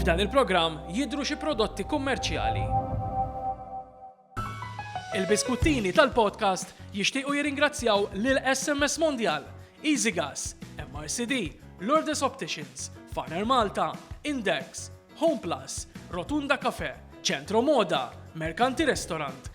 F'dan il-programm jidhru xi prodotti kummerċjali. Il-biskuttini tal-podcast jixtiequ jirringrazzjaw lil SMS Mondial, EasyGas, MRCD, Lourdes Opticians, Farner Malta, Index, Home Plus, Rotunda Cafe, Centro Moda, Mercanti Restaurant,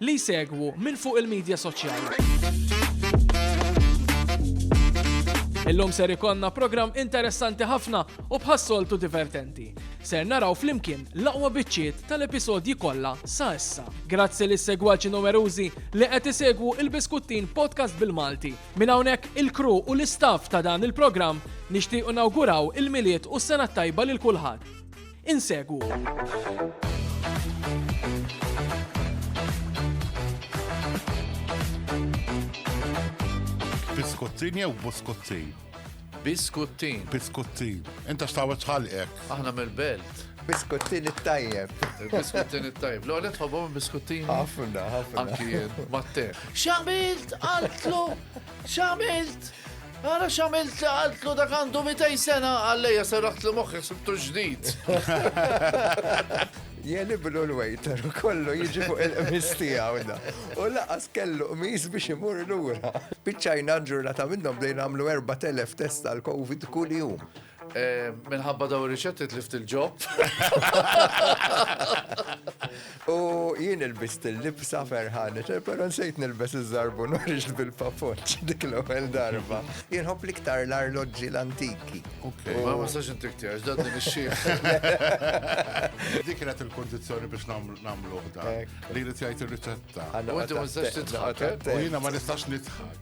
li jsegwu minn fuq il-midja soċjali. Illum ser ikollna programm interessanti ħafna u bħas-soltu divertenti. Ser naraw flimkien l-aqwa biċċiet tal-episodji kollha sa issa. Grazzi lis segwaċi numerużi li qed isegwu il-Biskuttin Podcast bil-Malti. Minn hawnhekk il-kru u l-istaff ta' dan il-programm nixtiequ nawguraw il-milied u s-sena tajba lil kulħadd. Biskuttin jew buskuttin? Biskuttin. Biskuttin. Inta xtawet ħalqek. Aħna mill-belt. Biskuttin it-tajjeb. Biskuttin it-tajjeb. L-għonet tħobom biskuttin. Ħafna, ħafna. Anki mat-te. Xamilt għaltlu X'għamilt? Ara xamilt li għaltlu dak għandu 200 sena għalleja serraħt li moħħi sibtu ġdid. Jeni bilu l-wejter u kollu jiġi fuq il-qmis tijaw da. U laqas kellu qmis biex imur l-ura. Bicċajna ġurnata minnom bdejna għamlu 4.000 test għal-Covid kull jum. Eh, minħabba daw riċetti tlift il-ġob. U jien il-bist il-libsa ferħan, pero nsejt nil-bes iż-żarbu norix bil-papoċ dik l-ewwel darba. Jien hopp liktar l-arloġġi l-antiki. Ma ma sax intik tiegħek, dan din ix-xieħ. Dik kienet il-kondizzjoni biex nagħmlu dan. Li jrid jgħid ir-riċetta. U inti ma nistax titħak. U jiena ma nistax nitħak.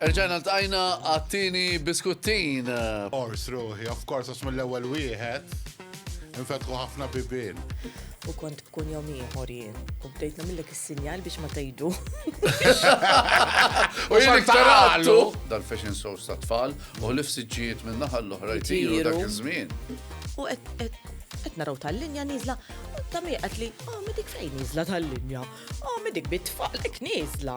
Erġajna ltqajna għat-tieni biskuttin. Ors ruħi, of course, għax mill-ewwel wieħed infetħu ħafna bibien. U kont bkun jom ieħor jien. U bdejt nagħmillek is-sinjal biex ma tgħidu. U jien iktarallu dal-fashion shows ta' tfal u l-ifsiġġijiet minn naħa l-oħra jtiru dak iż-żmien. U qed naraw tal-linja niżla, u ta' miqat li, oh, medik fejn niżla tal-linja, oh, medik bit-tfalek niżla.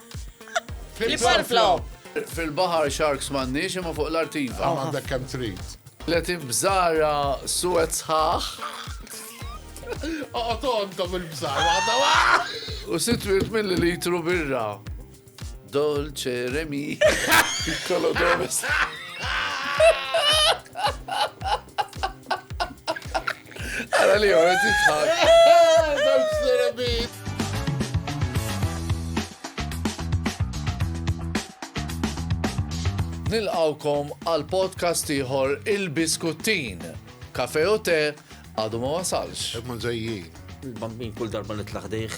Fl-ibħar flow. Fil-baħar sharks m'għandniex imma fuq l-artiva. Hawn għandek kemm trid. Tlet ibżara suwed sħaħ. Oqgħod għandhom il-bżar waħda U sitt wirt milli litru birra. Dolce Remi. Piccolo Domes. Għara li għara titħar. Nilqawkom għal podcast ieħor il-Biskuttin. Kafe u te għadu ma wasalx. Ma ġejjin. Il-bambin kull darba nitlaħ dejh.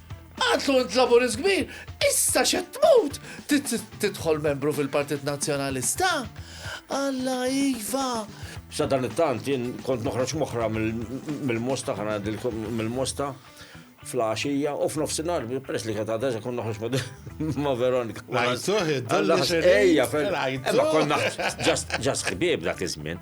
Għatlu int laburist kbir, issa xed tmut, tidħol membru fil-Partit Nazzjonalista. Alla iva. Sa dan it-tant jien kont noħroġ moħra mill-mosta ħana mill-mosta fl-għaxija u f'nofsinhar peress li kienet għadha kon noħroġ ma' Veronika. Ejja, eh, ma konna ġast ħbieb dak iż-żmien.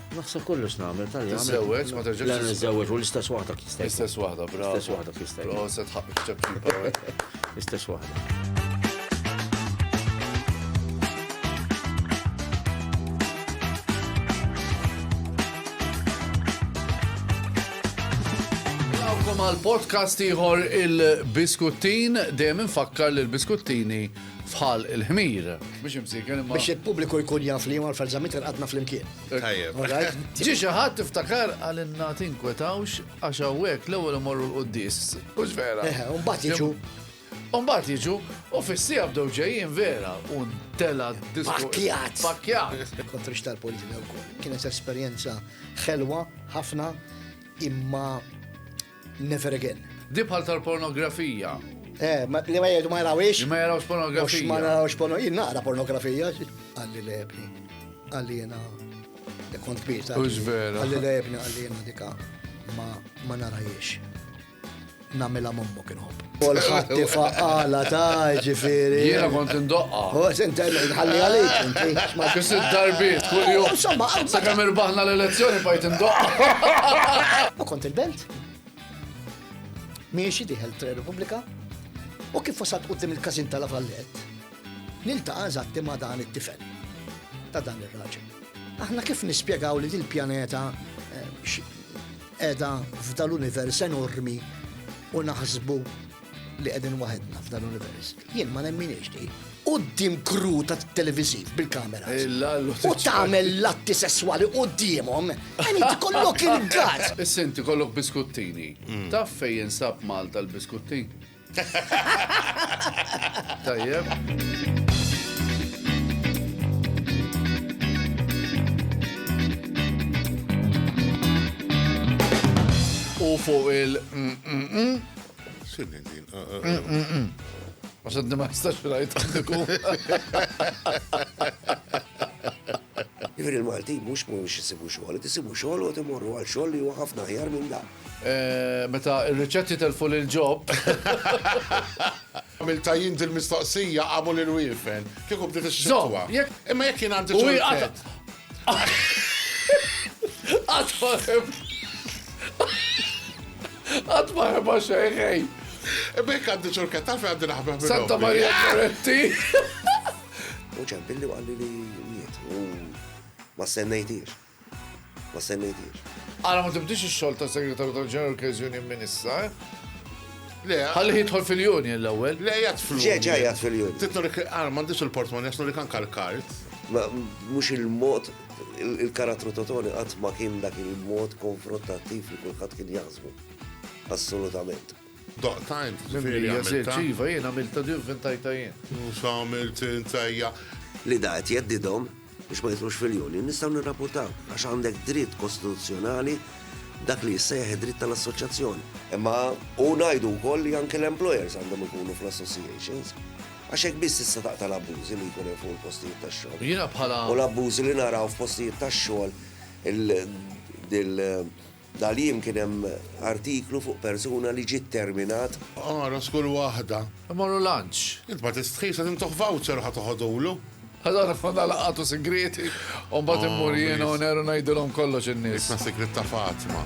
Naħseb kollox nagħmel tal Tiżżewweġ, ma terġax. Le niżżewweġ u l-istess waħda kista. L-istess waħda, bravo. L-istess waħda kista. Bravo, se tħaqqek ċabċipa. L-istess waħda. għal podcast iħor il-biskuttin, dejjem infakkar li l-biskuttini fħal il-ħmir. Biex imsiken imma. Biex il-pubbliku jkun jaf li jmar fil-żamit il-qadna fl-imkien. Tajjeb. Ġi xi ħadd iftakar għalinna tinkwetawx għax hawnhekk l-ewwel imorru l-quddis. Mhux vera. Eh, mbagħad jiġu. Umbat jiġu, u fissija bdew ġejjin vera, un tela disku. Pakjat! Pakjat! Kontrix tal-politika u kol. Kienet esperienza xelwa, ħafna, imma Never again. Di bħal tal-pornografija. Eh, li ma jgħidu ma jarawix. Li ma jarawx pornografija. Mux ma jarawx pornografija. Jien naqra pornografija. Għalli li ebni. Għalli jena. Kont kbir. Ux vera. Għalli li ebni għalli jena dika ma narajiex. Namela mommu kienħob. Kulħadd ifaqqala ta' jiġifieri. Jiena kont indoqqha. U se ntenni nħalli għalik inti. Xi sitt darbiet kuljum. Insomma. Sakemm irbaħna l-elezzjoni bqajt indoqqha. U kont il-belt. Miexi dieħel Tre Repubblika u kif wasalt quddiem il-każin ta' La Vallette, niltaqa' eżatti ma' dan it-tifel ta' dan ir-raġel. Aħna kif nispjegaw li dil-pjaneta Qiegħda f'dan l-univers enormi u naħsbu li qegħdin waħedna f'dan l-univers. Jien ma nemminix di. Qudiem kru ta' televiżiv bil-kamera. U tagħmel l-atti sesswali qudiemhom, għani tkollok il-gas. Is-sinti kollok biskuttini. Mm. Taf fejn jinsab Malta l-biskuttin? Tajjeb. u fuq il. Mm, mm, mm. Xinni din? Ah, ah, ah. Ma xaddi ma jistax rajt għandiku. Jivir il-Malti mux mux jisibu xogħol, tisibu xogħol u timorru għal xogħol li huwa ħafna ħjar minn dak. Meta r-riċetti telfu lil Ġob. Għamiltha jien dil-mistoqsija qamu lil wiefen. Kieku bdiet ix-xitwa. Imma jekk jien għandi ċurkett. Qatt ma ħeba xejn ħej. Imma jekk għandi ċurkett taf għandi naħbeb. Santa Maria Goretti. U ċempilli għalli li miet. U ma sennejtiex. ma semmejtiex. Ara ma tibdix ix-xogħol ta' Segretarju tal-General Case Union minn issa, eh? Le. Ħalli jidħol fil-union l-ewwel. Le jgħat fil-union. Ġej ġej jgħat fil-union. Titnorik għar m'għandix il-portmon jasnu li kan kal-kart. Ma mhux il-mod il-karattru totoni qatt ma kien dak il-mod konfrontattiv li kulħadd kien jaħsbu. Assolutament. Doqta int, ġifieri għamilta. Iva jien għamilta di vvintajta jien. Mhux għamilt int ejja. Li da qed jeddidhom biex ma jidħlux fil-union nistgħu nirrapurtaw għax għandek dritt kostituzzjonali dak li jissejjaħ id-dritt tal-assoċjazzjoni. Imma u ngħidu wkoll li anke l-employers għandhom ikunu fl-associations għax hekk biss tista' taqta' l-abbużi li jkun hemm fuq il-postijiet tax-xogħol. Jiena bħala. U l-abbużi li naraw f'postijiet tax-xogħol il Dal-jiem kien hemm artiklu fuq persuna li ġie terminat. Ara skull waħda. Immorru lunch. Int ma tistħix qed intuh voucher u ħa toħodulu. Allura niffondaw laqgħat u sigrieti u mbagħad immur jiena u Nero ngħidulhom kollox in-nies. Isma' sigriet ta' Fatma.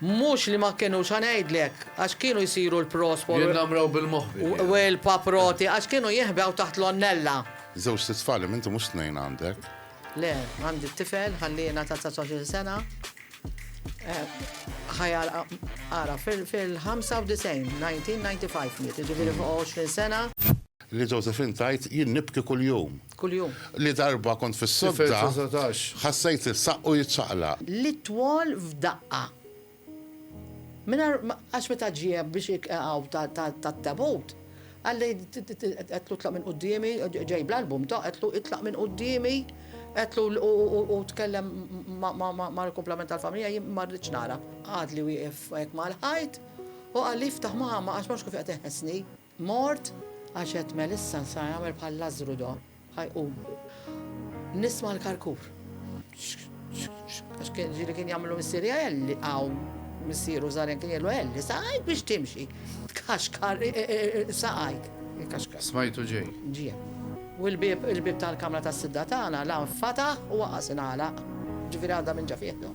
Mhux li ma kinux, ħa ngħidlek, għax kienu jsiru l-prospo u. Jinnamraw bil-moħbi tiegħu. U l-paproti, għax kienu jinħbew taħt l-onnella. Żewġt itfal, imma inti mhux tnejn għandek? Le, għandi tifel, ħallieh ngħata 19-il sena. Ħa jagħlaq, ara, fil-95, 1995 miet, jiġifieri fuq 20 sena. Li Josephine tgħid, Jien nibki kuljum. Kuljum. Li darba kont fis-sodda, ħassejt is-saqqu jiċċaqlaq. Li twol f'daqqa. Mingħajr ma, għax meta ġie biex iqegħu tat-tabut, qalli, għedtlu tlaq minn quddiemi, ġej bl-album tiegħu, għedtlu itlaq minn quddiemi, għedtlu u tkellem mal-kumplament tal-familja, jien ma rridx nara. Għadli wieqef hekk mal-ħajt u qalli, Iftaħ mama għax ma nafx kif qed iħessni. Mort, għax għedt Melissa sa jagħmel bħal Lażżru do, ħa jqum. Nisma' l-karkur. Għax kien ġieli kien jagħmlu missieri Elli hawn missieru żgħar kien jgħidu Elli saqajk biex timxi. Tkaxkar saqajk. Smajtu ġej. Ġie. U l-bieb il-bieb tal-kamra tas-sidda tagħna la nfataħ u waqas ingħalaq. Ġifieri għadha minn ġa fih do.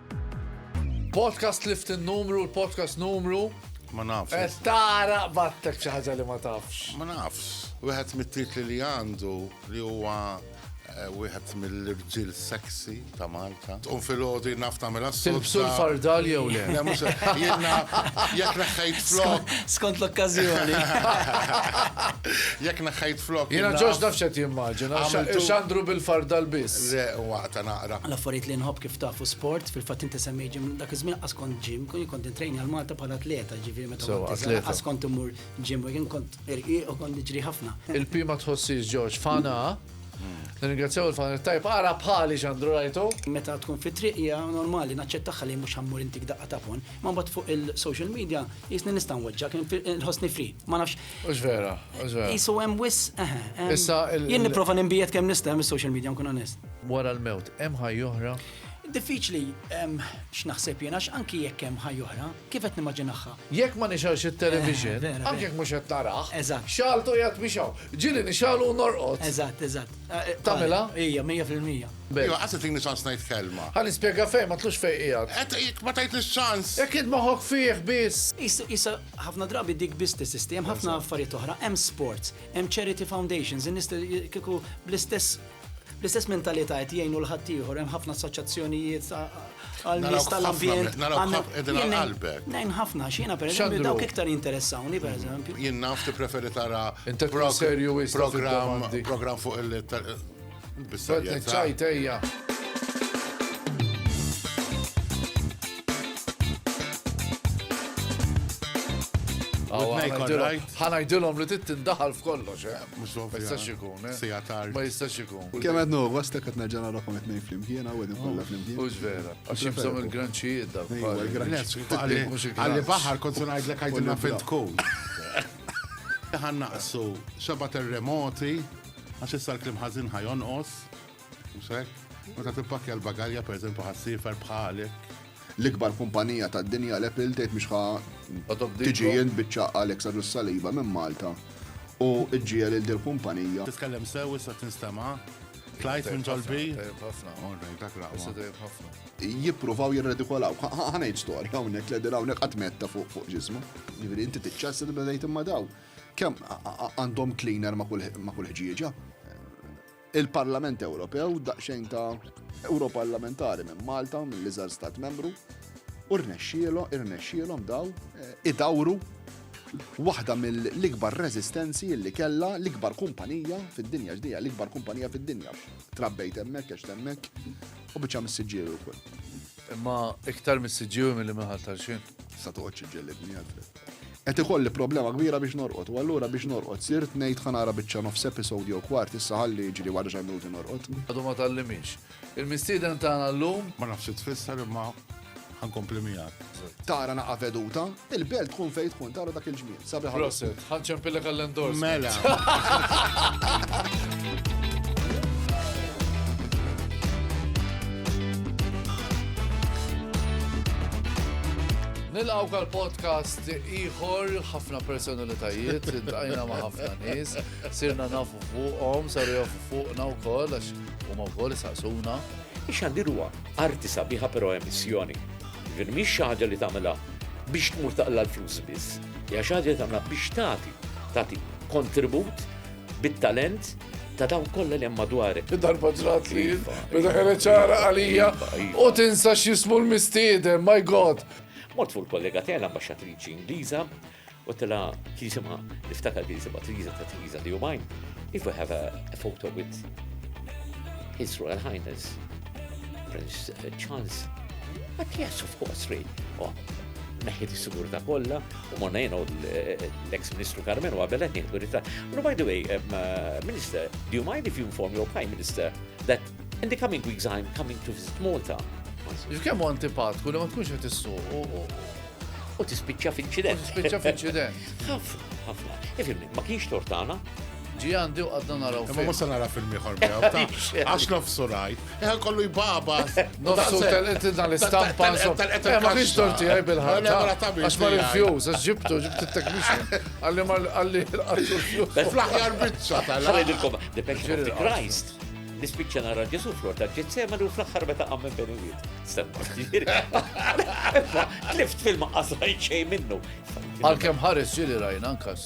Podcast lift il-numru, l-podcast numru. Ma nafx. Eh, tara battek xi ħaġa li ma tafx. Ma nafx. Wieħed mit-titli li għandu li huwa eh, wieħed mill-irġiel sexy ta' Malta. Tqum fil-ħodi naf tagħmel assu. Tilbsu l-fardal jew le? Le mhux jiena jekk neħħejt flok. Skont l-okkażjoni. Jekk neħħejt flok. Jiena ġoġ nafx qed jimmaġina. X'għandru bil-fardal biss. Le waqta naqra. L-affarijiet li nħobb kif Tafu sport, fil-fatt inti semmej ġim, dak iż-żmien qas kont ġim, kien kont intrejni għal Malta bħala atleta, ġifieri meta So, kont iżgħar, atleta. qas kont imur ġim, u kien kont irqiq u kont niġri ħafna. Il-P ma tħossix Ġorġ fana. Nirringrazzjaw il-fana tajb ara bħali x'għandru rajtu. Meta tkun fit-triq hija normali naċċettagħha li mhux ħammur intik daqqa ta' phone, imma mbagħad fuq il-social media qisni nista' nweġġgħek, inħossni free. Ma nafx Ux vera, ux vera. Isu hemm wis, eħe. Issa. Jien niprofa nimbijet kemm nista' hemm is-social media nkun onest. Wara l-mewt, hemm ħaj oħra? Diffiċli x'naħseb jiena anki jekk hemm ħaj oħra, kif qed nimmaġinaħħa. Jekk ma nixgħalx it-television, eh, anke jekk mhux qed narah. Eżatt. Xaltu jgħat biex hawn. Ġieli nixgħalu norqod. Eżatt, eżatt. Eh, eh, Tamela? Ija, 100%. Ija, għasset li nixgħal snajt kelma. Għan nispjega fejn ma tlux fejn qiegħed. Jekk ma tajt nixgħans. Jekk id moħok fih biss. Issa Ħafna drabi dik biss tesisti, hemm ħafna affarijiet oħra, hemm sports, hemm charity foundations, in-nies kieku bl-istess l-istess mentalità qed jgħinu l-ħadd ieħor hemm ħafna assoċjazzjonijiet għal nies tal-ambjent. Ngħin ħafna x'jiena pereżempju dawk iktar interessawni pereżempju. Jien naf tippreferi tara programm fuq il Ħanajdilhom li titt tindaħal f'kollox, eh? Mhux ma jistax ikun, eh? Sija tard. Ma jistax ikun. Kemm qed nuhu, għastek qed nerġa' nagħrafhom qed ngħid flimkien hawn qegħdin kollha flimkien. Mhux vera. Għax jibżgħu il-granċijiet dak. Għalli baħar kont ngħidlek għajdilna fejn tkun. Ħannaqsu xeba terremoti Għax issa l-klim ħażin ħa jonqos, mhux hekk? Meta tippakkja l-bagalja pereżempju ħassiefer bħalek. L-ikbar kumpanija tad-dinja l-Apple tgħid mhix ħa tiġi jien biċċa Alex Adu Saliba minn Malta u ġġiel il dil kumpanija. Titkellem sew issa tinstema' Klajt minn ġolbi? ħafna. Orrej, dak raqwa. Jippruvaw jirredikolaw. Ħanajt storja hawnhekk li hawnhekk qatt metta fuq fuq ġismu. Jiġifieri inti tiċċassi li bdejt imma daw. Kemm għandhom cleaner ma' kull ħġieġa? Il-Parlament Ewropew daqsxejn ta' Europarlamentari minn Malta, mill-iżgħar stat membru, u rnexxielhom irnexxielhom daw eh, idawru waħda mill-ikbar rezistenzi li kella l-ikbar kumpanija fid-dinja ġdija, l-ikbar kumpanija fid-dinja. Trabbejt hemmhekk għax hemmhekk u biċċa missiġġiewi wkoll. Imma iktar missiġġiewi milli minħal tal-xejn. Sa toqgħodx ġellibni għadret. Qed ikolli problema kbira biex norqod, u allura biex norqod sirt ngħid ħa nara biċċa nofs episode jew kwart issa ħalli jiġri wara xi minuti norqod. Għadu ma tgħallimix. Il-mistieden tagħna llum. Ma nafx xi tfisser imma ħankompli miegħek. Tara naqa' veduta, il-belt tkun fejn tkun tara dak il-ġmiel. Sabiħ ħafna. Proset, ħa nċempillek għall-endors. Mela. Nilqawk għal podcast ieħor ħafna personalitajiet, intqajna ma' ħafna nies, sirna nafu fuqhom, saru jafu fuqna wkoll għax huma wkoll isaqsuna. Ix-xandir huwa arti sabiħa però emissjoni. Ġifieri mhix xi ħaġa li tagħmilha biex tmur taqla l-flus biss. Hija xi ħaġa li tagħmilha biex tagħti, tagħti kontribut bit-talent ta' daw kollha li hemm madwarek. Darba ġrat li meta kienet ċara għalija iva, iva. u tinsa x'jismu l-mistieden, my God. Mort fuq il-kollega tiegħi l-ambaxxatriċi Ingliża u tela kien jisimha niftakar kien jisimha Triza ta' Triza li jumajn. If we have a, a photo with His Royal Highness Prince uh, Charles, but yes, of course, really. Oh, neħi di sigurta kollha u morna jena u l-ex ministru Carmenu għabel għet nieħdu ritratt. No, by the way, um, uh, Minister, do you mind if you inform your Prime Minister that in the coming weeks I'm coming to visit Malta? Kemm u antipatku li ma tkunx qed issuq u tispiċċa f'inċident. U tispiċċa f'inċident. Ħafna, ħafna. Ifimni, ma kienx tortana, ġi għandi u għadna naraw. Ma musa nara film iħor miegħu. Għax nofsu rajt. Eħe kollu jbabas. Nofsu tal-qed tal-istampa. Eh, ma kienx torti għaj bil-ħarta. Għax ma rifjus, għax ġibtu, ġibtu t-teknixin. Għalli ma għalli għattu rifjus. Fl-ħjar bicċa tal-għalli. Għalidilkom, the passion of the Christ. Nispiċċa nara Ġesu flor ta' ġizzema u fl-axħar meta għammen benijiet. Stemma, ġiri. Tlift fil-maqqas rajt xej minnu. Għal-kem ħares ġiri rajna nkas.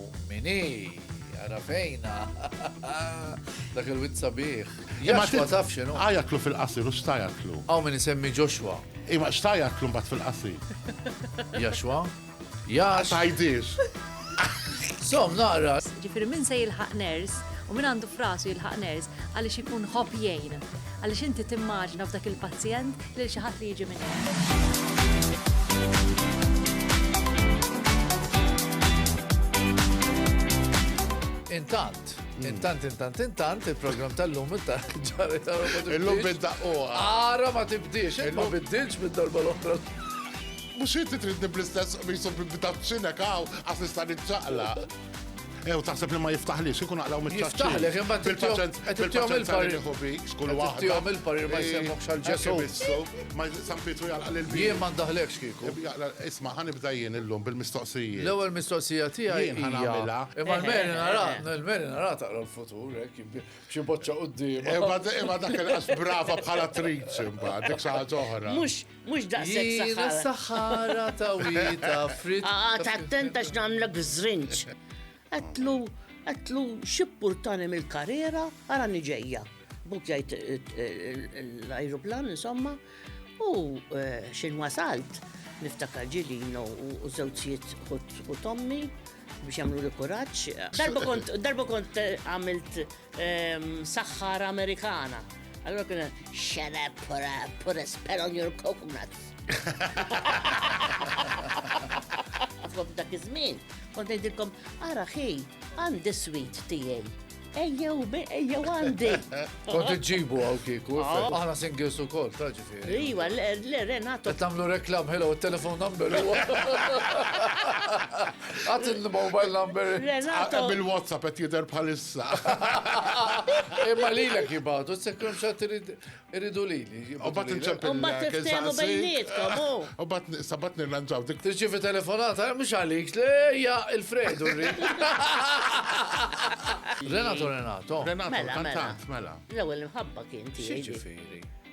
Min hi? Ara fejna. Dak il-witt sabiħ. Imma ma tafx x'inhu. Għajatlu fil-qasir u xtajatlu. Hawn min isemmi Joshua. Imma xtajatlu mbagħad fil-qasir. Joshua? Jax. Tajdix. Som naqra. Ġifieri min se jilħaq ners u min għandu frasu jilħaq ners. Għaliex ikun ħobb jgħin. Għaliex inti timmaġina f'dak il-pazjent lil xi ħadd li jiġi minn Intant, Intant, intant, intant, il-program tal-lum ġarri tal-lum. Il-lum bidda u. Ara ma tibdix, ma biddilx bid-darba l-oħra. Mux jinti tridni bl-istess bisu bidda bċinek għaw, għas nista' nitċaqla. Ew, taħseb li ma jiftaħlix, ikun għaqlaw mit-ċaċċi. Jiftaħlek, imma bil-paċenza. Bil-paċenza il-parir. Skull waħda. Tijom il-parir ma jisemmok xal-ġesu. Ma San Pietru jgħalqa l-bi. Jien ma ndaħlekx kiku. Isma, ħanibda jien illum bil-mistoqsija. L-ewel mistoqsija tija jien ħanamela. Imma l-meri nara, l-meri nara taqra l-futur, xie boċċa u d-dim. Imma dak il-qas brava bħala trid, imma dik saħat oħra. Mux Mhux daqshekk saħħara. Jiena saħħara ta' wieta frit. Qagħad attenta x'nagħmlek żrinġ. Għedtlu, għedtlu xi purtani mill-karriera ara niġejja. Buk jgħid l-ajruplan insomma u eh, x'in wasalt niftakar ġilino u żewġijiet u tommi biex jagħmlu li kuraġġ. Darba kont darba kont eh, għamilt Saħħara Amerikana. Allora kien shut up for a, for a spell on your coconuts. Għafob dak iż-żmien, kont ngħidilkom, ara ħi, għandi sweet tiegħi. Ejjew, ejjew għandi. Kont iġġibu għaw kiku, ah. aħna singles u kol, ta' ġifiri. Iwa, le, Renato. Tamlu reklam, hello, telefon number. Għat il-mobile number. Renato. Bil-WhatsApp għet jider bħalis issa. Imma lilek jibgħatu, sekkum xatt iridu lili. U bat nċempil. U bat tiftemu bejnietkom. U bat sabat nirranġaw dik. Tirċivi telefonata, mhux għalik, lejja il-Fredu rrid. Renato Renato. Renato, mela, mela. mela. L-ewwel imħabba kien tiegħi.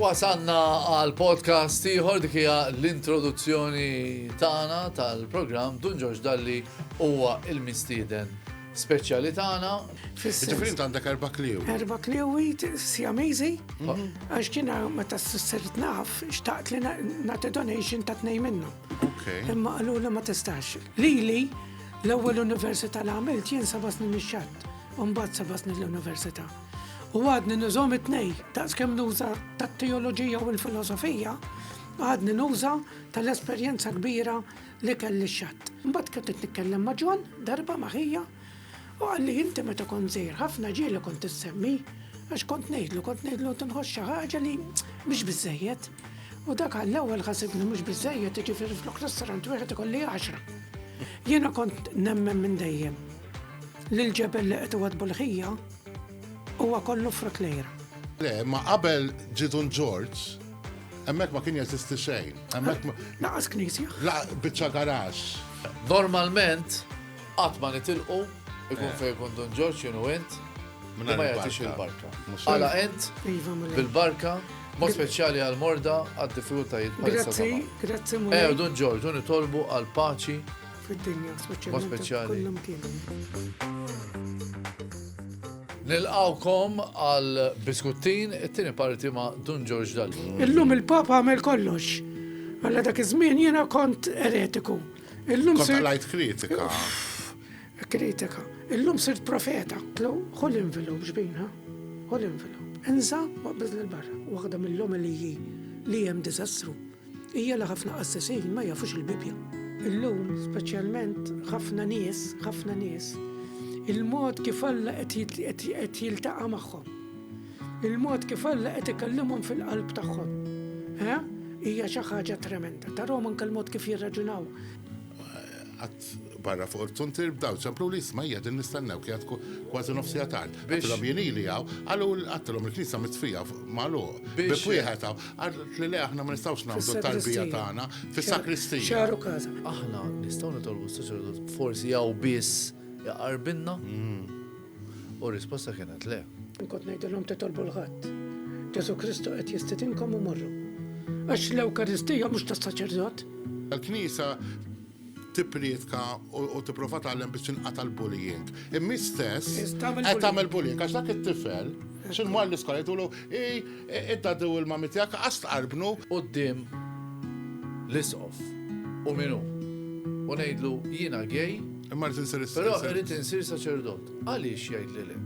Wasanna għal podcast ieħor dik hija l-introduzzjoni tagħna tal-programm Dun Ġorġ Dalli huwa il-mistieden speċjali tagħna. Ġifieri int għandek erba' kliewi. Erba' kliewi Siamese għax kien meta sirt naf xtaqt li nagħti donation ta' tnejn minnhom. Imma qalu li ma tistax. Lili l-ewwel università li għamilt jien seba' snin ix-xatt, u mbagħad seba' snin l-università. U għadni nużhom it-tnej, daqs kemm nuża tat-teoloġija u l-filosofija, għadni nuża tal-esperjenza kbira l-ikel lix-xatt. Imbagħad kont qed nitkellem ma' John darba ma' ħija u qalli inti meta kont żgħir ħafna ġieli kont issemmi għax kont ngħidlu kont ngħidlu tinħoss xi ħaġa li mhix biżejjed. U dak għall-ewwel ħasibni mhux biżejjed jiġifieri flok restaurant wieħed ikolli għaxra. Jiena kont nemmen minn dejjem li l-ġebel li qed iwadbu l-ħija huwa kollu frott lejra. Le, ma qabel ġidun George, Hemmhekk ma kien jeżisti xejn. Hemmhekk Laqas knisja. Laqas biċċa garax. Normalment qatt ma nitilqu ikun eh. fejn kun Dun Ġorġ jenu int ma jagħtix il-barka. Għala int iva, bil-barka Mod speċjali għal morda għad diffikultajiet. Grazzi, grazzi. Eh, Dun Ġorġ, nitolbu għal paċi fid-dinja, speċjali. Nilqawkom għal biskuttin it-tieni parti ma' Dun George Dal. Illum il-Papa għamel kollox. Għalla dak iż-żmien jiena kont eretiku. Illum kont lajt kritika. Kritika. Illum sirt profeta. Tlu, ħol invilu ġbina. Ħol invilu. Enza, waqbizna l-barra. Waħda mill-lom li li jem dizastru. Hija li ħafna qassisin ma jafux il-Bibbja. Illum, speċjalment ħafna nies, ħafna nies, il-mod kif Alla qed jiltaqa' magħhom. Il-mod kif Alla qed ikellimhom fil-qalb tagħhom. Hija xi ħaġa tremenda. Tarhom anke l-mod kif jirraġunaw. barra fuq il-zuntier b'dawl ċemplu li jisma' qiegħdin nistennew kienet kważi nofs siegħa tard. Għedtilhom jien ili hawn, qalu għedtilhom il-knisja mitfija magħluq. Biex wieħed hawn, għad li le aħna ma nistgħux nagħmlu t-tarbija tagħna fis-sakristija. Xaru każa. Aħna nistgħu nitolbu s-saċerdot forsi hawn biss jaqarbilna? Mm. U risposta kienet le. Nkont ngħidilhom titolbu l-ħadd. Ġesu Kristu qed jistidinkom u morru. Għax l-Ewkaristija mhux tas-saċerdot. Il-Knisja tipprietka u tipprova tgħallem biex tinqata' l-bullying. Imma stess qed tagħmel bullying għax dak it-tifel x'in mar l-iskola jgħidulu id-daddy u l-mami tiegħek qas tqarbnu quddiem l-isqof u min hu u ngħidlu jiena gay, imma rrid insir is-saċerdot. Però rrid insir saċerdot. Għaliex jgħidli le?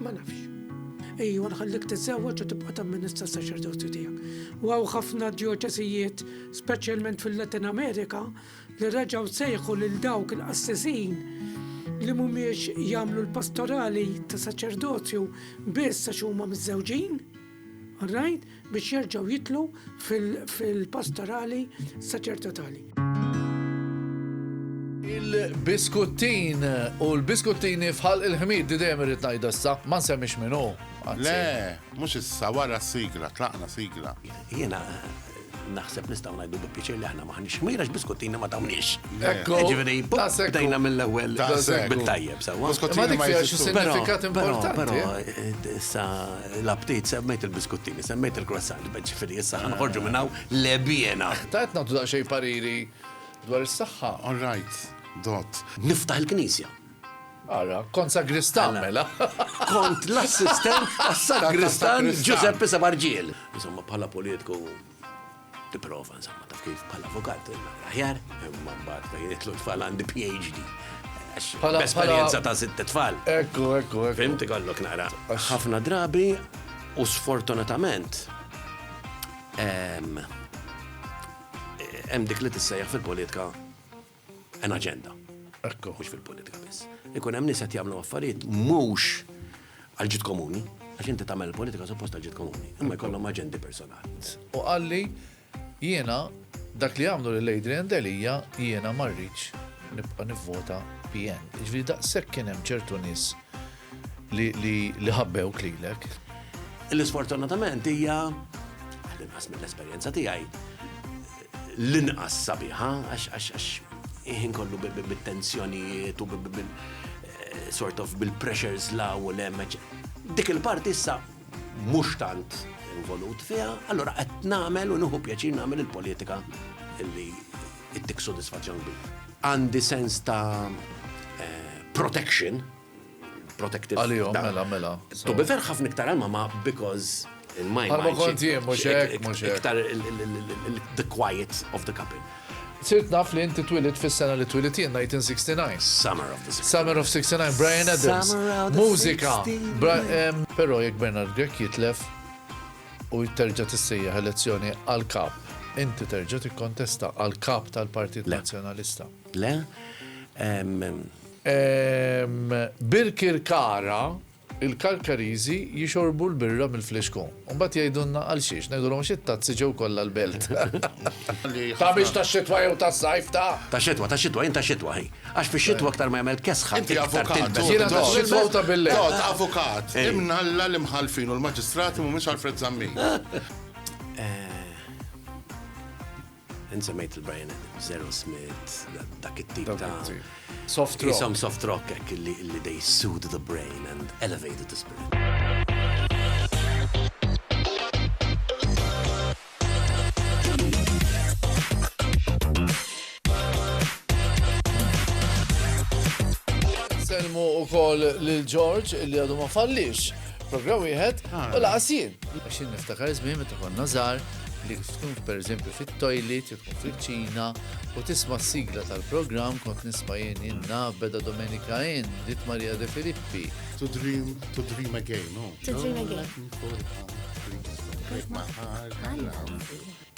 Ma nafx. Ejwa nħallik tiżżewweġ u tibqa' tamministra s-saċerdozju tiegħek. U hawn ħafna djoċesijiet, speċjalment fil-Latin Amerika, li reġgħu sejħu lil dawk il-qassisin li mhumiex jagħmlu l-pastorali ta' saċerdozju biss għax huma miżżewġin. Oħrajn biex jerġgħu jidħlu fil-pastorali saċertatali. Il-biskuttin u l-biskuttini fħal il-ħmid di dejjem irrid ngħid issa, ma nsemmix minnu. Le, mhux issa wara sigla, tlaqna sigla. Jiena Naħseb nistgħu ngħidu bi pjaċir li aħna m'aħniex ħmir għax biskuttina ma tawniex. Ekku. Jiġifieri bdejna mill-ewwel bit-tajjeb sewwa. Ma dik fiha xi sinifikat importanti. Però eh, issa l-aptit semmejt il-biskuttini, semmejt il-croissant, ġifieri issa ħanħorġu minn hawn lebjena. Tajt nagħtu daqsxejn pariri dwar is-saħħa. All right, dot. Niftaħ il-knisja. Ara, kont sagristan mela. Kont l-assistent tas-sagristan Ġużeppi Sabarġiel. Insomma, bħala politiku tipprova, insomma, taf kif bħala avukat aħjar, imma mbagħad fejn jitlu tfal għandi PhD. Esperjenza ta' sitt tfal. Ekku, ekku, ekku. Fimti kollok nara. Ħafna drabi u sfortunatament hemm dik li tissejjaħ fil-politika an agenda. Ekku. Mhux fil-politika biss. Ikun hemm nies qed jagħmlu affarijiet mhux għal ġid komuni, għax inti tagħmel politika suppost għal ġid komuni, imma jkollhom aġendi personali. U qalli jiena dak li għamlu lil Adrian Delija jiena ma rridx nibqa' nivvota PN. Ġifieri daqshekk kien hemm ċertu nies li ħabbew klilek. L-isfortunatament hija, għadin qasmi l-esperjenza tiegħi, l-inqas sabiħa għax għax għax ħin kollu bit-tensjonijiet u sort of bil-pressures la u l-hemm. Dik il-parti issa mhux tant involut fiha, allura qed nagħmel u nieħu pjaċir nagħmel il-politika li ittik sodisfazzjon kbir. Għandi sens ta' protection protective. Għalihom, mela, mela. To be fair, ħafna iktar għalma ma because in my mind. Għalma kont jien, mux hekk, mux hekk. Iktar the quiet of the couple. Sirt naf li inti twilit fis-sena li twilit jien 1969. Summer of the 69. Summer of 69, Brian Adams. Mużika. Pero jek Bernard Grek jitlef u jitterġa tissejja elezzjoni għal-kap. Inti terġa tikkontesta għal-kap tal-Partit Nazjonalista. Le? Birkirkara, Il-Karkariżi jixorbu l-birra mill-flixkun. Imbagħad jgħidulna għalxiex. Ngħidulhom għax it-tazzi ġew kollha l-belt. Ta' mhix tax-xitwa jew tas-sajf, ta'? Tax-xitwa, tax-xitwa, jien tax-xitwa, hi. Għax fix-xitwa aktar ma jagħmel kesħa, iktar tilbes. Jiena tax-xitwa u ta' bil-lejl. Dott, avukat, imnalla l-imħallfin u l-maġistrati mhumiex Alfred Zammit. Int semmejt il-Brian Adams, Aerosmith, dak it-tip ta' soft rock. Isom soft rock hekk li they soothe the brain and elevated the spirit. Selmu u koll lil George li għadu ma fallix program wieħed u laqas jien. Għaxin niftakar żmien meta konna żgħar li tkun pereżempju fit-toilet, jew tkun fil-ċina, u tisma' s-sigla tal-programm kont nisma' jien jien naf beda Domenika N, dit Maria De Filippi. To dream, to dream again, no? To dream again.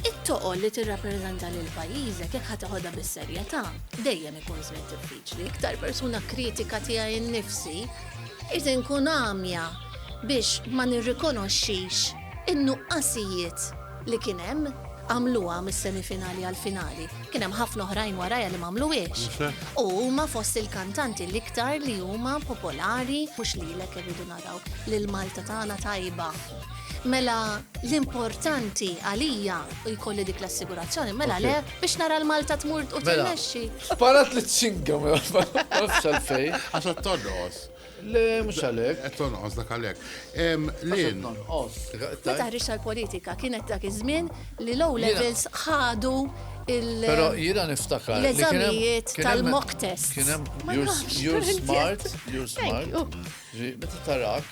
It-toqol li tirrappreżenta lil pajjiżek jekk ħadd iħodha bis-serjetà dejjem ikun żmien diffiċli. Iktar persuna kritika tiegħi nnifsi, irid inkun għamja biex ma nirrikonoxxix In-nuqqasijiet li kien hemm għamluha mis-semifinali għall-finali. Kien hemm ħafna oħrajn warajha li m'għamluhiex. U huma fost il-kantanti l-iktar li huma popolari mhux lilek irridu naraw li l-Malta tagħna tajba. Mela l-importanti għalija u jkolli dik l-assigurazzjoni, mela le biex nara l-Malta tmur u mela. tirnexxi. Sparat li t-singa mela, fej. Għaxa t-todos. Le, mhux għalhekk. Qed tonqos dak għalhekk. Lin. Tonqos. Meta ħriġ tal-politika kienet dak iż-żmien li low levels ħadu il Però jiena niftakar. L-eżamijiet tal-mock test. Kien hemm you're smart, you're smart. Meta tarak,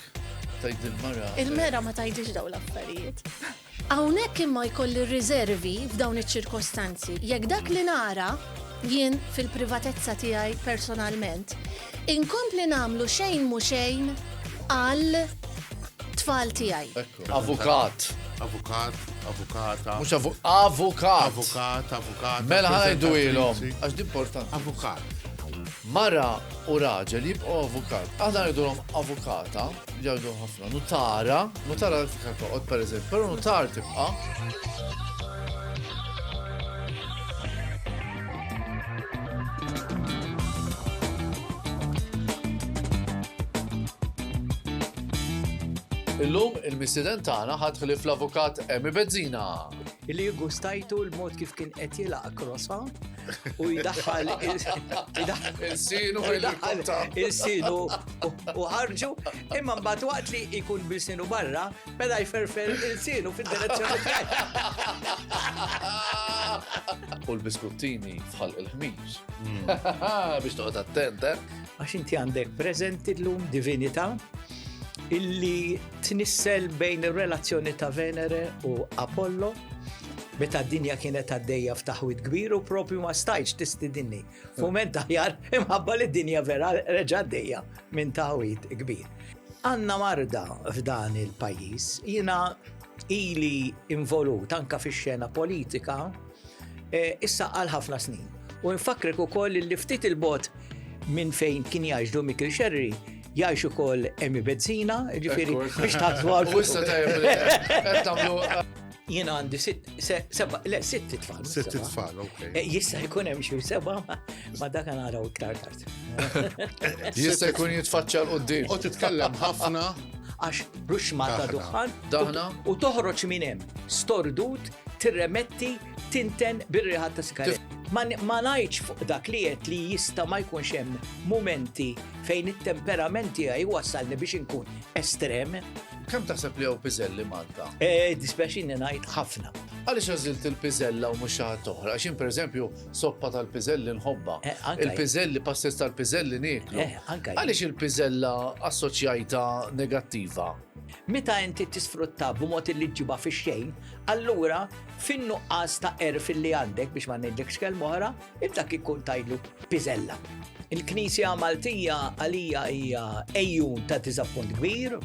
tajd il-mara. Il-mera ma tajdix daw l-affarijiet. Hawnhekk imma jkolli riservi f'dawn iċ-ċirkostanzi. Jekk dak li nara, jien fil-privatezza tiegħi personalment, inkompli nagħmlu xejn mhu xejn għal tfal tiegħi. Avukat. Avukat, avukata. Mhux avu, avukat. Avukat, avukata. Mela ħa ngħidu ilhom, presentatriċi. għax di importanti. Avukat. Mara u raġel jibqgħu avukat. Aħna ngħidulhom avukata. Jgħidu ħafna, nutara, nutara fika toqgħod pereżempju, però nutar tibqa'. Illum il-missiden tagħna ħadd ħlif l-avukat Emi Bezzina. Illi gustajtu l-mod kif kien qed jilaq krosa u jdaħħal il-sinu il-sinu u ħarġu imma mbagħad waqt li jkun bil-sinu barra mela jferfer il-sinu fid-direzzjoni U l-biskuttini fħal il-ħmiż. Hmm. Biex toqgħod attent, eh? Għax inti għandek preżenti llum divinità illi tnissel bejn ir-relazzjoni ta' Venere u Apollo meta d-dinja kienet għaddejja f'taħwit kbir u propju ma stajċ tistidinni. Fument taħjar imħabba li d-dinja vera reġa għaddejja minn taħwit kbir. Għanna marda f'dan il-pajis, jina ili involut anka fi xena politika, e, issa għal ħafna snin. U nfakrek u koll li ftit il-bot minn fejn kien jaġdu Mikil Xerri, jgħix ukoll emi bezzina, ġifiri, biex taħtu għal. U issa tajjeb, Jien għandi seba, le, sitt tfal. Sitt tfal, ok. Eh, jista' jkun hemm xi seba, ma dak naraw iktar tard. Jista' jkun jitfaċċa l qudiem U titkellem ħafna għax bruxma ta' duħan. Daħna. U toħroġ minn hemm stordut tirremetti tinten bir-riħat ta' sigaret. Ma ngħidx fuq dak li qed li jista' ma jkunx hemm mumenti fejn it-temperament tiegħi wassalni biex inkun estrem. Kemm taħseb li hawn piżelli Malta? Eh, dispjaċini ngħid ħafna. Għaliex għażilt il-piżella u mhux xi ħadd oħra? Għax pereżempju soppa tal-piżelli nħobba. Eh, il-piżelli, passes tal-piżelli nieklu. Eh, Għaliex il-piżella assoċjajta negattiva? Meta inti tisfrutta b'mod illi ġġibha fix-xejn, allura fin-nuqqas ta' għerf illi għandek, biex ma ngħidlekx kelma oħra, il dak ikun tgħidlu piżella. Il-Knisja Maltija għalija hija għejjun ta' diżappunt kbir,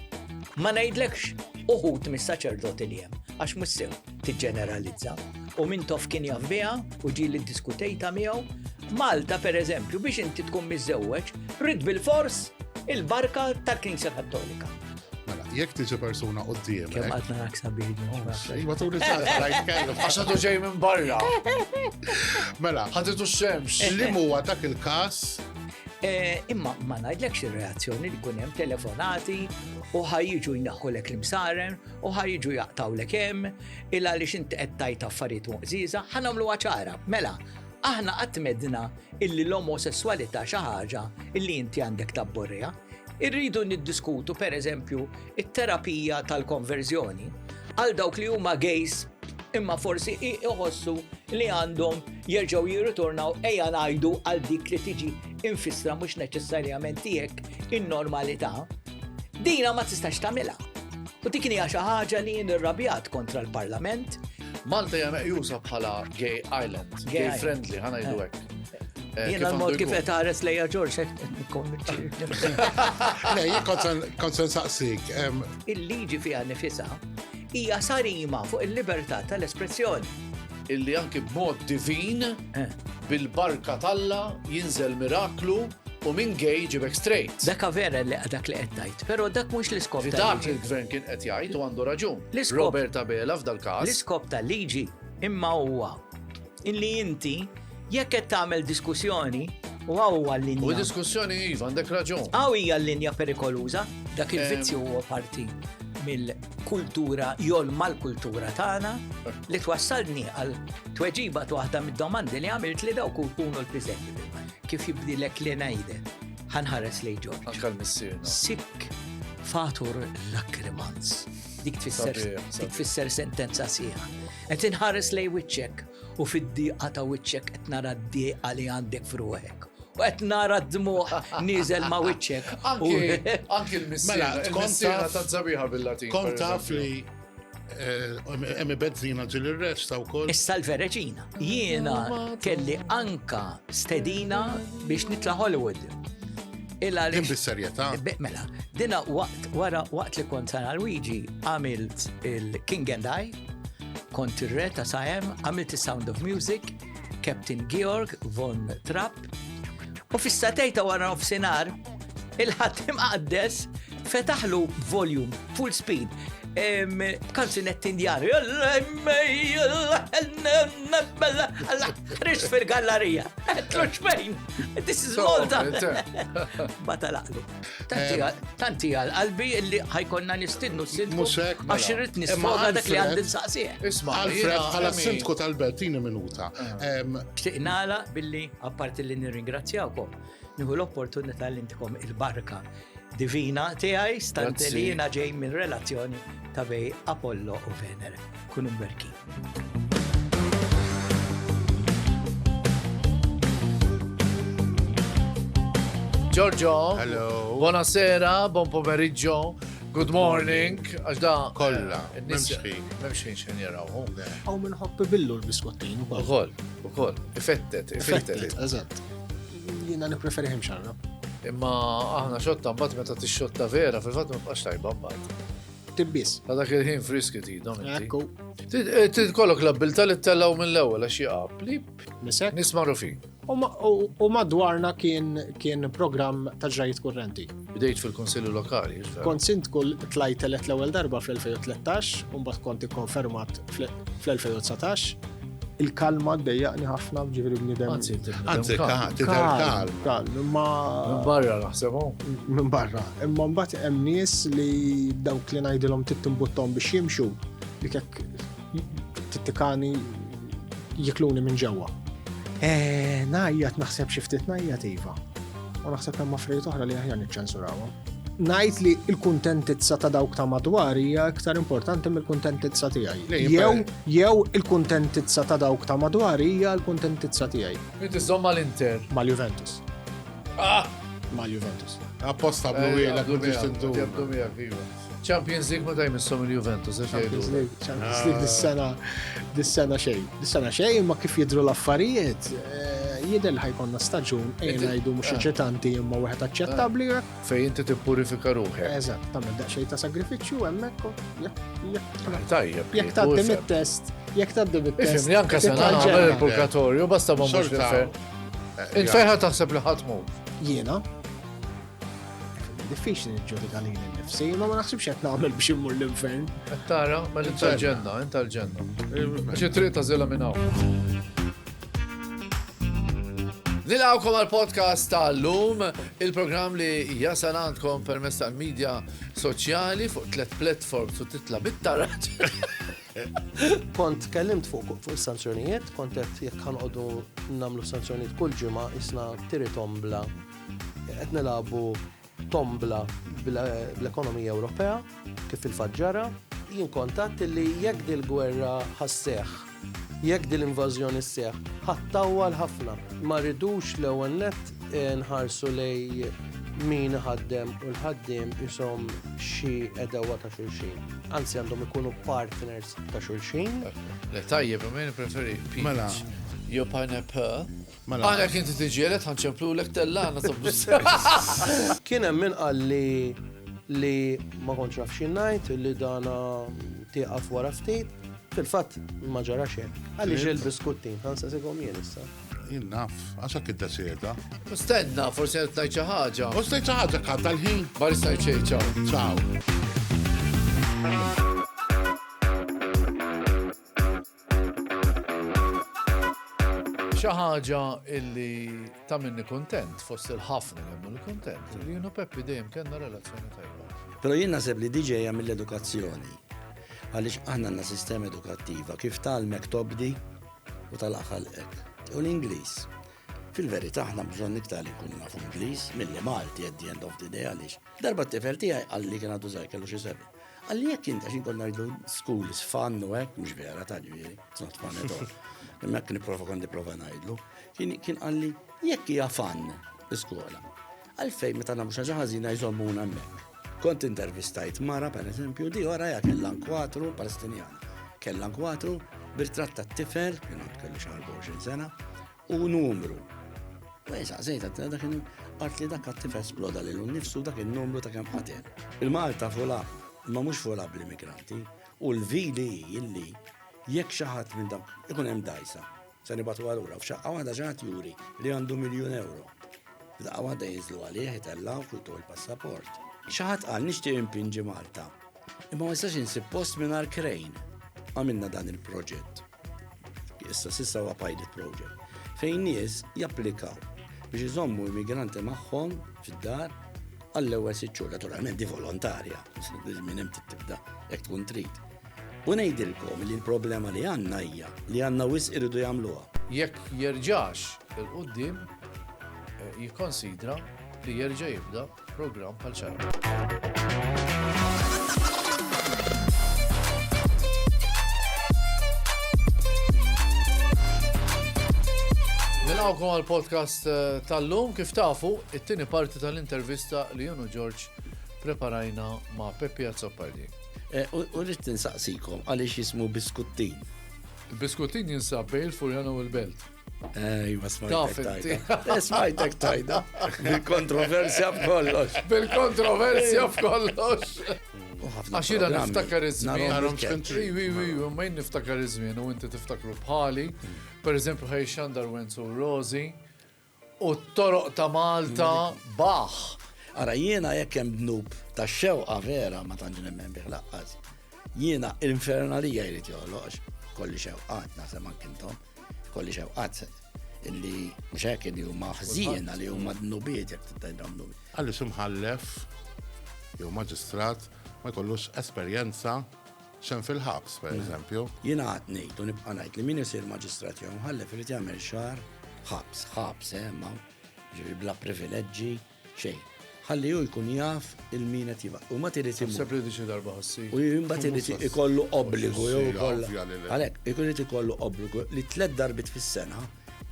ma ngħidlekx uħud mis-saċerdoti li hemm, għax mhux sew. tiġġeneralizza u min tof kien jaf biha u ġi li diskutejta miegħu. Malta pereżempju biex inti tkun miżewweġ, rid bil-fors il-barka tal-Knisja Kattolika. Mela, jekk tiġi persuna u d-diem. Kem għadna naksa bidni. Iwa tu li għaxħadu ġej minn barra. Mela, ħaditu xemx. Eh, li eh. muwa dak il-kas? Eh, imma ma najdlekx il-reazzjoni li kunem telefonati u ħajġu jnaħħulek l-imsaren u ħa jiġu jaqtgħulek hemm, il għaliex inti qed tgħid affarijiet moqżieża, ħa nagħmluha ċara. Mela, aħna qatt medna illi l-omosessualità xi ħaġa illi inti għandek tabborriha. Irridu niddiskutu pereżempju it-terapija tal-konverżjoni għal dawk li huma gejs imma forsi iħossu li għandhom jerġgħu jirritornaw ejja ngħidu għal dik li tiġi infissra mhux neċessarjament tiegħek in-normalità Dina ma tistax tagħmilha. U dik hija xi ħaġa li nirrabjat kontra l-Parlament. Malta hija meqjusa bħala gay island, gay friendly, ħana jdu eh. hekk. Eh, Jena l-mod kif qed ħares lejja Ġorġ eh, Le, jien kont se nsaqsik. Il-liġi fiha nifisha hija sarima fuq il-libertà tal-espressjoni. Illi anki b'mod divin eh. bil-barka talla jinżel miraklu U minn gay jġibek straight. Daka vera li dak li qed tgħid, però dak mhux l-iskop tal-liġi. Dak li l-gvern kien qed jgħid u għandu raġun. Robert Abela f'dal-każ. L-iskop tal-liġi imma huwa illi inti jekk qed tagħmel diskussjoni u għawwa l-linja. U diskussjoni iva, għandek raġun. Għaw hija l-linja perikoluża, dak il-vizzju eh. huwa parti mill-kultura, jol mal-kultura tagħna li twassalni għal tweġiba waħda mid-domandi li għamilt li dawk kunu l-piżenti. Kif jibdilek li ngħide, ħanħares lejn Ġorġ. Anka l-missier. Sik fatur lakrimans. Dik tfisser dik tfisser sentenza sieħa. Qed inħares lejn wiċċek u fid-diqa ta' wiċċek qed nara d-diqa li għandek fruħek. U qed nara d-dmuħ niżel ma' wiċċek. Anki l-missiera mela, ta' zabiħa bil-Latin. Kont taf li Eh, Emi bezzina ġil il-resta u koll. Issa l-vereċina. Jiena kelli anka stedina biex nitla Hollywood. Illa li. Bis-serjetà. Mela, dina waqt wara waqt li kont sana Luigi għamilt il-King and I, kont ir-re ta' Sajem, għamilt il-Sound of Music, Captain Georg von Trapp, U fis-satej ta' wara nofsinhar, il-ħatim għaddes fetaħlu volume, full speed, kanzunetti indjari. Rix fil-gallerija. Tlux fejn. This is Malta. Bata laqlu. Tanti għal qalbi illi ħajkonna nistidnu s-sindku. Musek. Mela. Għax irrit nisfoga dak li għandin saqsieħ. Isma, Alfred, għala s-sindku tal-belt, tini minuta. Eh. Xtiqnala billi, apparti li nirringrazzjawkom, niħu l-opportunità li ntikom il-barka divina tiegħi stant li jiena ġej minn relazzjoni ta' bej Apollo u Venere. Kunu mberkin. Giorgio. Hello. Buonasera, buon pomeriggio. Good morning, għax da. Kolla, eh, memxħin. Memxħin xen jaraw. Għaw minn hoppi billu l-biskottin. Ukoll, ukoll. Effettet, effettet. Eżat. Jina nipreferi him xarra. Imma aħna xotta mbagħad meta tixxotta vera fil-fatt ma tibqax tajba mbagħad. Ktib biss. Ta' dak il-ħin friski tidhom. Ekku. Trid kollok l-abbilta li tellgħu mill-ewwel għax jaqab li nisek nisma' rufi. U madwarna kien kien programm ta' ġrajiet kurrenti. Bdejt fil-Kunsilli Lokali. Kont sindku tlajt elett l-ewwel darba fl-2013 u mbagħad kont ikkonfermat fl-2019. il-kalma ddejjaqni ħafna ġifiri bnidem. Anzi, anzi, tidher kalm. Kalm, imma. Minn barra naħsebhom. Minn barra. Imma mbagħad hemm nies li dawk li ngħidilhom tittimbuttom biex jimxu li kek tittikani jikluni minn ġewwa. Eh, najjat naħseb xi ftit najjat iva. U naħseb hemm affarijiet oħra li aħjar niċċensurawhom. ngħid li l-kuntentizza ta' dawk ta' madwar hija iktar importanti mill-kuntentizza tiegħi. Jew jew il-kuntentizza ta' dawk ta' madwar hija l-kuntentizza tiegħi. Inti żomm mal-Inter. Mal-Juventus. Ah! Mal-Juventus. Apposta blu eh, wiela biex tintu. Champions League meta jmissom il-Juventus, għax jgħidu. Champions League, Champions League dis-sena, dis-sena xejn. Dis-sena xejn, ma kif jidru l-affarijiet, eh, jidher ħajkonna staġun, ejn ngħidu mhux ah. eċitanti imma wieħed aċċettabbli. Ah. Fejn inti tippurifika ruħek. Eżatt, tagħmel daqsxejn ta' sagrifiċċju hemmhekk. Tajjeb. Jekk tgħaddi mit-test, jekk tgħaddi mit-test. Ifimni anke se nagħmel il-purgatorju basta ma mhux nifhem. Eh, Infeħa taħseb li ħatmu. Jiena, diffiċli niġġudika li nifsi, ma ma naħsibx qed nagħmel biex immur l-infern. Qed tara, ma l ġenna int tal-ġenna. Għax it-triq ta' żilha minn hawn. Nilawkom għal-podcast tal-lum, il-program li jasal għandkom permess tal-medja soċjali fuq tlet platforms u titla bit-taraġ. Kont kellimt fuq fuq sanzjonijiet, kont qed jekk ħanqodu namlu sanzjonijiet kull ġimgħa isna tiri tombla Qed nilagħbu tombla bl-ekonomija Ewropea kif fil-fatt ġara. Jien kont għadt li jekk dil-gwerra ħasseħħ, jekk dil-invażjoni sseħħ, ħattawwal ħafna. Ma rridux l-ewwel nett nħarsu lejn min iħaddem u l-ħaddiem ishom xi għedewwa ta' xulxin. Anzi għandhom ikunu partners ta' xulxin. Le tajjeb, imma jien preferi peach. Mela. Jew pineapple. Mela. Għalhekk inti tiġieled ħa nċemplulek tellana ta' bluż. Kien hemm min qal li li ma kontx naf xi ngħid li dana tieqaf wara ftit. Fil-fatt ma ġara xejn. Għaliex il-biskuttin ħansa sigom jien issa. Jien naf, għax hekk iddesida. Stenna, forsi qed ngħid xi ħaġa. U stajt xi ħaġa kanta l-ħin. Ma nistajt xejn ċaw. Ciao. Xi ħaġa illi tagħmilni kuntent fost il-ħafna li jagħmlu kuntent li jienu Peppi dejjem kellna relazzjoni tajba. Però jien naħseb li diġej ġejja mill-edukazzjoni. Għaliex aħna għandna sistema edukattiva kif talmek tobdi u tal-aħħalqek. U l-Ingliż. Fil-verità aħna bżonn iktar li nkunu nafu Ingliż milli Malti at the end of the day għaliex Darba t-tifel tiegħi qal li kien għadu żgħir kellu xi sebi. Qal li jekk inta xi kont ngħidu school is fun u hekk mhux vera ta' ġifieri, it's not fun at all. Imma kien nipprova kont nipprova ngħidlu. Kien qal li jekk hija fun l-iskola. Għalfejn meta nagħmlu xi ħażina jżommuna hemmhekk. Kont intervistajt mara, per eżempju, di ora ja kella nkwatru palestinjan. Kella nkwatru birtratt tat-tifel, kien kellu xi 24 sena, u numru. U jisa, zejta, t dak għart li dak għattif esploda li l-nifsu dak il-numru ta' kem ħaten. Il-Malta fula, ma mux fula bl-immigranti, u l-vili illi jekk xaħat minn dak ikun hemm dajsa, se nibatu għalura, f'xaqqa waħda xaħat juri li għandu miljon euro. F'daqqa waħda jinżlu għalih, jitellaw, kultu il-passaport. Xaħat għal nishtiq impinġi Malta, imma ma jistax insib post minn krejn. Għamilna dan il-proġett. Issa s'issa huwa pilot project fejn nies japplikaw biex iżommu immigranti magħhom fid-dar għall-ewwel sitt xhur. Naturalment di volontarja, minn hemm tibda hekk tkun trid. U ngħidilkom li l-problema li għandna hija li għandna wisq iridu jagħmluha. Jekk jerġax il-quddiem, jikkonsidra li jerġa' jibda. Programm bħal Nilqawkom għal podcast eh, tal-lum kif tafu it-tieni parti tal-intervista li jenu Ġorġ preparajna ma' Peppi Azzopardi. Eh, u rrid tinsaqsikom għaliex jismu biskuttin. Biskuttin jinsab bejn il-Furjana u l-Belt. Ejwa, smajtek tajda. Eh, smajtek tajda. Bil-kontroversja b'kollox. Bil-kontroversja b'kollox. Għax jina niftakar iż-żmien. Ma jien niftakar iż-żmien u inti tiftakru bħali. Mm. Per eżempju, ħaj xandar Wenzu Rozi u t-toroq ta' Malta mm. baħ. Ara jiena jekk hemm dnub ta' xewqa vera ma tantx nemmen bih laqqas. Jiena l-infernalija jrid joħloqx kolli xewqat naħseb ankintom. Kolli xewqat illi mhux hekk li huma ħżiena li huma dnubiet jekk tittajbhom dnubi. Għalli ximħallef jew maġistrat ma jkollux esperjenza xem fil-ħabs, per eżempju. Jina għat nejt, u nibqa najt li min jisir maġistrat jew mħallef irid jagħmel xar ħabs, ħabs, eh, ma ġivi bla privileġġi, xejn. Ħalli hu jkun jaf il min qed jibgħat. U mbagħad irid imur. Naħseb li diġi darba ħassi. U mbagħad irid ikollu obbligu jew ikollha. Għalhekk, ikun irid ikollu obbligu li tliet darbit fis-sena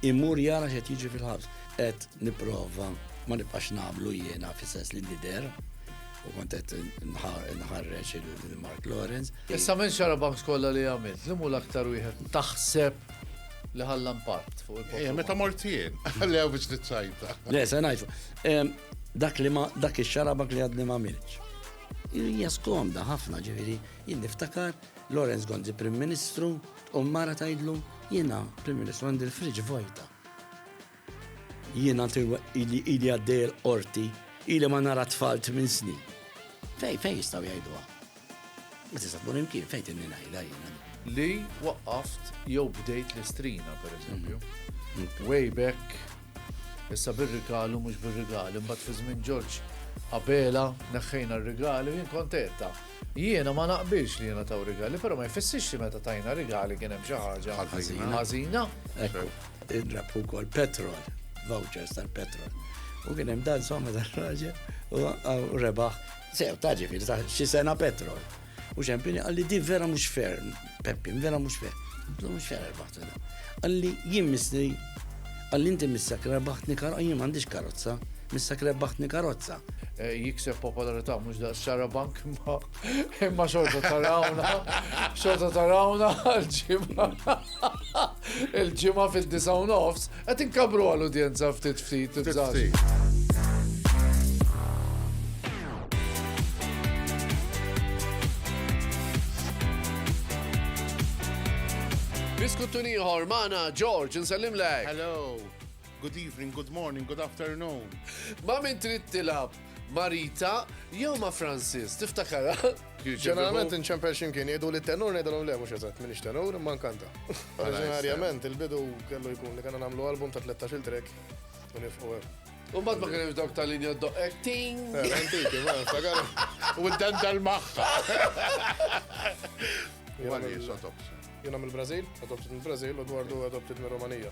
imur jara x'qed jiġi fil-ħabs. Qed nipprova ma nibqax nagħmlu jiena fis-sens li nidher u kont qed nħarreġ il-Mark Lawrence. Issa minn xara banks kollha li għamilt, li mhu l-aktar wieħed taħseb li ħalla impatt fuq il-poplu. Eh, meta mortien, li għaw biex t-sajta. Le, se najfu. Dak li ma, dak il-xarabak li għadni ma milċ. Hija skomda ħafna ġiviri, jien niftakar Lorenz Gonzi Prim Ministru u mara tajdlu jiena Prim Ministru għandi l-friġ vojta. Jiena ili ili għaddej il-qorti, ili ma nara tfal minn snin. Fej, fej jistaw jgħiduha. Ma tista' tkun imkien fejn tinni ngħidha jiena. Li waqqaft jew bdejt l-istrina, per eżempju. Mm. Mm. Way back, issa bir-rigalu mhux bir-rigali, mbagħad fi żmien Ġorġ Abela neħħejna r-rigali jien kontetta. Jiena ma naqbilx li jiena taw rigali, però ma jfissirx li meta tajna rigali kien hemm xi ħaġa ħażina. Indrab ukoll petrol, vouchers tal-petrol. U kien hemm dan somma tal-raġel u rebaħ. Sew, ta' ġifieri ta' xi sena petrol. U ċempini għalli di vera mhux ferm, Peppi, vera mhux ferm. Għallu mhux ferm rebaħt Għalli jien misni, għalli inti missak rebaħtni karozza, jien m'għandix karozza, missak rebaħtni karozza. Eh, jikseb popolarità mhux da' xara bank ma' Imma xorta tarawna, xorta tarawna l-ġimma. Il-ġimma fil-disa u nofs, għet inkabru għal-udjenza ftit ftit. Diskuttu nieħor maħna George, nsellim lek. Hello. Good evening, good morning, good afternoon. Ma' min trid tilab? Ma' Rita jew ma' Francis, tiftakara? Ġeneralment inċempel ximkien jgħidu li tenur ngħidilhom le mhux eżatt minix tenur ma nkanta. Oriġinarjament il-bidu kellu jkun li kellna nagħmlu album ta' 13-il track u nifqu hemm. Umbat ma kienx dawk tal-linja doqqek ting. Eh, antiki, ma, sagar. U d-dan dal-maħħa. Jena mill-Brazil, adopted mill-Brazil, u dwardu adopted mill-Romanija.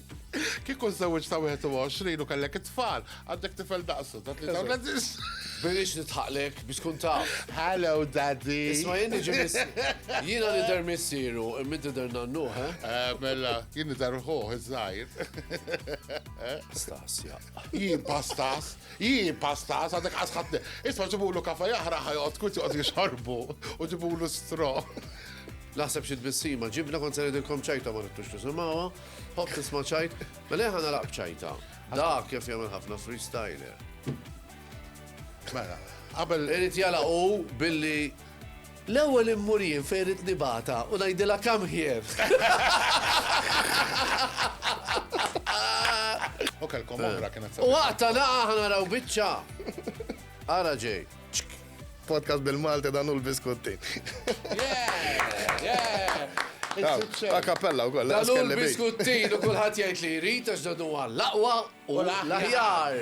Kieku żewġ ta' 21 u kellek it-tfal, għandek tifel daqsu ta' 33. Birix nitħaqlek biex tkun ta'. Hello, daddy. Isma' jien niġi Jiena li der missieru, imma der nannu, ha? Eh? Eh, mela, jien der ħuħ iż-żgħir. Pastas, ja. Jien pastas, jien pastas, għadek għasħatni. Isma' ġibulu kafa jaħra ħajqot kut joqgħod jixorbu u ġibulu stro. Naħseb xi tbissima, ġibna kont se ngħidilkom ċajta ma nittux tisimgħuha. Hopp tisma' ċajt, mela ħa nalaq ċajta. Da kif jagħmel ħafna freestyler. Mela, qabel. Irid jala u billi l-ewwel immurien fejn rid nibata u ngħidilha kam ħjer. Ok, l-komodra kienet. U waqta naqa' ħana raw biċċa. Ara ġej. Podcast bil-Malti dan u l-biskutti. Ta' kappella u koll. Dan u l-biskutti u kullħat jgħid li jrid għax dan huwa l-aqwa u l-aħjar.